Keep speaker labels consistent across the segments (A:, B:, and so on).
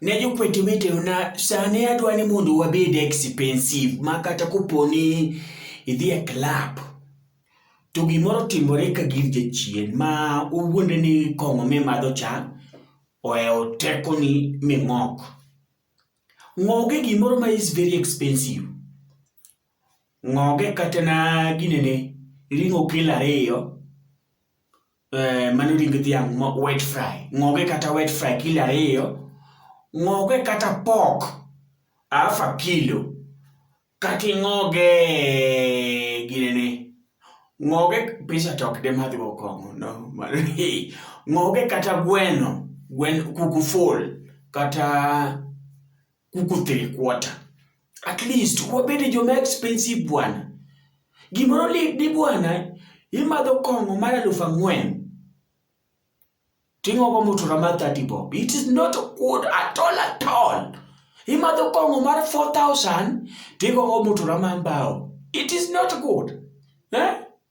A: Ne jokwete wetena, sani adwa ni mondo wabed expensive ma kata kopo ni idhi e club to gimoro timore ka gir jachien ma owuonde ni kong'o mimadho cha ohewo tekoni ming'ok. Ng'oge gimoro ma is very expensive. Ng'oge kata na ginene ring'o kilo ariyo eh, mano ring dhiang' ma wet fry ng'oge kata wet fry kilo ariyo ng'oge kata pork half a kilo kata ing'oge ginene ng'oge pesa to ok demadhgo kong'o no ng'oge kata gweno gwen kuku full kata kuku three quarter at least wabede joma expensive bwana gimoro lidi bwana imadho kong'o mar alufu ang'wen ting'ogo mutura mar 30 bob it is not good at all at all imadho kong'o mar 4000 tigogo mutura mar mbao it is not good eh?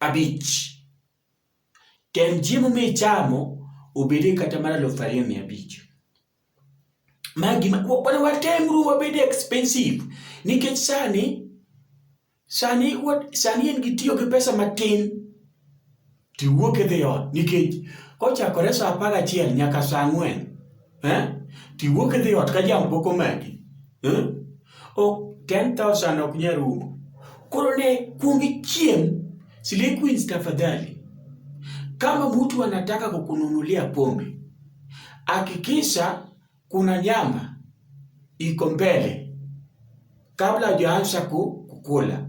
A: abich. Tem chiemo michamo obede kata mar aluf ariyo mia abich. Ma gima wana watemru wabed expensive nikech sani sani sani en gi tiyo gi pesa matin tiwuok idhi ot nikech kochakore saa apar gachiel nyaka saa ang'wen eh? to iwuok idhi ot ka jam pok omaki eh? ok 10000 ok nyal rumo koro ne kuong ichiem Slay Queens tafadhali kama mtu anataka kukununulia pombe hakikisha kuna nyama iko mbele kabla hujaanza kukula